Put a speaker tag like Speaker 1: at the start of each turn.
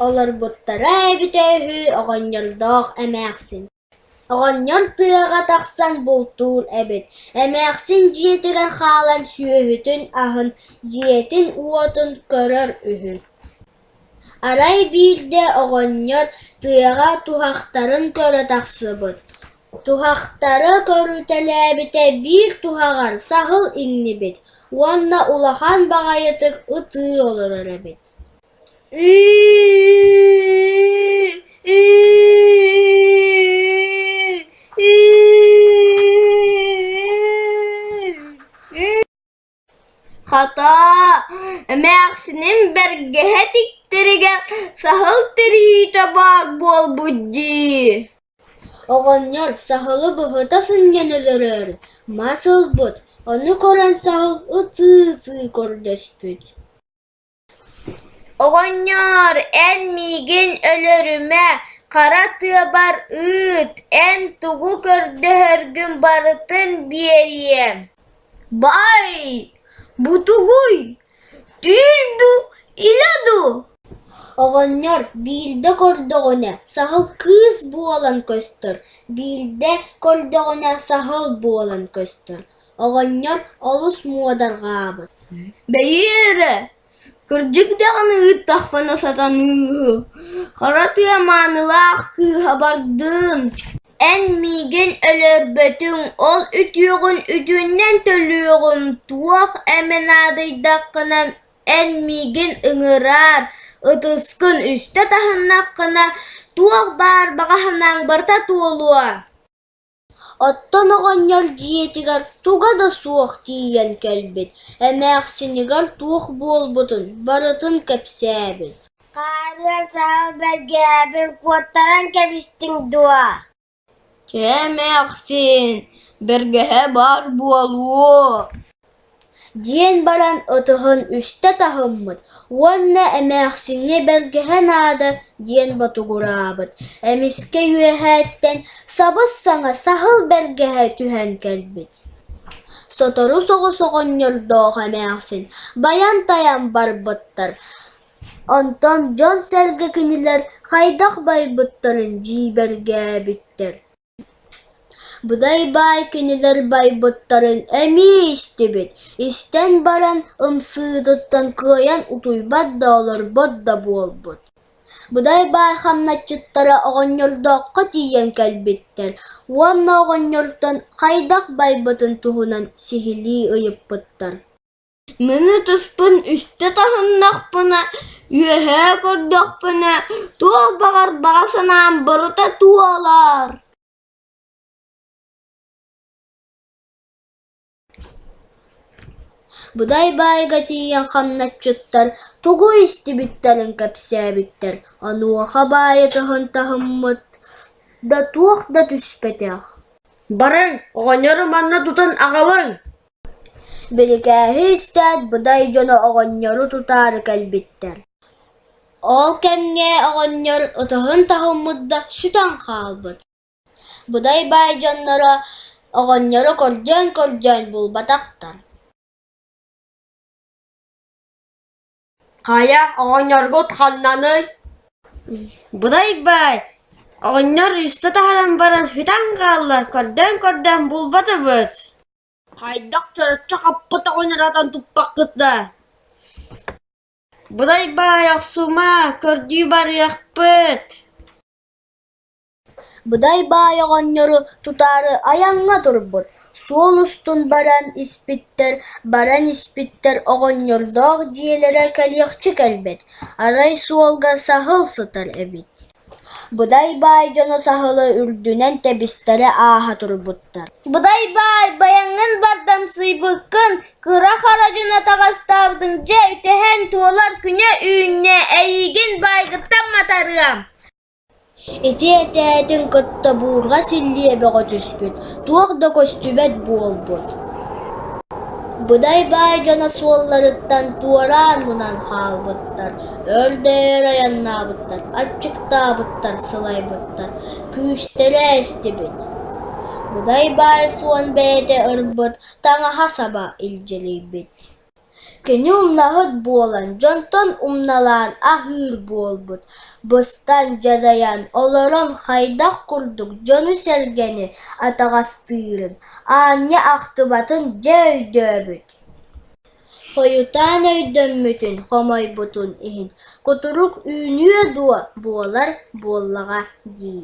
Speaker 1: Олорбуттара эбитэ үһү оҕонньордоох эмээхсин Оҕонньор тыаҕа тахсан бултуур эбит, эмээхсин дьиэтигэр хаалан сүөһүтүн аһын, дьиэтин-уотун көрөр үһү Арай биирдэ оҕонньор тыаҕа туһахтарын көрө тахсыбыт, туһахтары көрүтэлээбитэ биир туһаҕар саһыл иҥнибит уонна улахан баҕайытык ытыы олорор эбит Хото, эмээхсиним бэргэһэ тиктэригэр саһыл тириитэ баар буолбут дии Оҕонньор саһылы быһыта сынньан өлөрөр мас ылбыт, ону көрөн саһыл ытыы-ытыы көрдөспүт Оҕонньоор, эн миигин өлөрүмэ, хара тыабар ыыт, эн тугу көрдөһөргүн барытын биэриэм Бай, бу тугуй, түүн дуу, илэ дуу? Оҕонньор биирдэ көрдөҕүнэ саһыл кыыс буолан көстөр, биирдэ көрдөҕүнэ саһыл буолан көстөр Оҕонньор олус муодарҕаабыт, «бэйи эрэ, кырдьык даҕаны ыыттахпына сатаныыһы, хара тыа маанылаах кыыһа бардын, эн миигин өлөрбөтүҥ, ол үтүөҕүн үтүөннэн төлүөҕүм, туох эмэ наадыйдаххына эн миигин ыҥыраар, ытыскын үстэ таһыннаххына, туох баар баҕаһынаҥ барыта туолуо» Оттон оҕонньор дьиэтигэр туга да суох тиийэн кэлбит, эмээхсинигэр туох буолбутун барытын кэпсээбит Хаарыан саал бэргээбин куоттаран кэбистиҥ дуо? Чэ, эмээхсин, бэргэһэ баар буолуо диэн баран отоһун үстэ таһыммыт уонна эмээхсиҥҥэ бэргэһэ наада диэн ботугураабыт эмискэ үөһээттэн сабыс-саҥа саһыл бэргэһэ түһэн кэлбит сотору соҕус оҕонньордоох эмээхсин байан-тайан барбыттар онтон дьон-сэргэ кинилэр хайдах байбыттарын дьиибэргээбиттэр Быдай-баай кинилэр байбыттарын эмиэ истибит, истэн баран ымсыытыттан кыайан утуйбат да олорбот да буолбут Быдай-баай хамначчыттара оҕонньордооххо тиийэн кэлбиттэр уонна оҕонньортон хайдах байбытын туһунан сиһилии ыйыппыттар Мины туспун үстэ таһыннахпына, үөһээ көрдөхпүнэ, туох баҕар баҕа санаам барыта туолар Будай-баайга тиийэн хамначчыттар тугу истибиттэрин кэпсээбиттэр, онуоха баайытыһын таһыммыт да туох да түспэтэх баран, оҕонньору манна тутан аҕалыҥ Бирикээһи истээт, Будай дьоно оҕонньору тутаары кэлбиттэр. Ол кэмҥэ оҕонньор ытыһын таһыммыт да сүтэн хаалбыт. Будай баай дьонноро оҕонньору кордьоон-кордьоон булбатахтар Хайа, оҕонньоргут ханнаный? Будай-бай, оҕонньор үстэ таһынан баран сүтэн хаалла, көрдөөн-көрдөөн булбатыбыт Хайдах чороччу хаппыт оҕонньоруттан туппаккыт да Будай-бай, охсума, көрдүү барыахпыт Быдай баай оҕонньору тутаары айаҥҥа турбут, суол устун баран испиттэр, баран испиттэр оҕонньордоох дьиэлэрэ кэлиэхчэ кэлбэт, арай суолга саһыл сытар эбит Быдай баай дьоно саһылы үрдүнэн тэбистэрэ ааһа турбуттар «Быдай баай, байаҥҥын бардамсыйбыккын, кыра харадьыны таҕастаабытыҥ дьэ үтэһэн туолар күнэ-үүннэ, эйиигин баайгыттан матарыам» Ити этээтин кытта буурҕас иллиэ бөҕө түспүт, туох да көстүбэт буолбут Быдай-баай дьоно суолларыттан туораан мунан хаалбыттар, өрдөйөр айаннаабыттар, аччыктаабыттар, сылайбыттар, күүстэрэ эстибит Быдай-баай суон бэйэтэ ырбыт, таҥаһа саба илдьирийбит Кини умнаһыт буолан, дьонтон умналаан аһыыр буолбут, быстан, дьадайан олорон хайдах курдук дьону-сэргэни атаҕастыырын, аанньа ахтыбатын дьэ өйдөөбүт хойутаан өйдөммүтүн, хомойбутун иһин кутурук үүнүө дуо, буолар буоллаҕа дии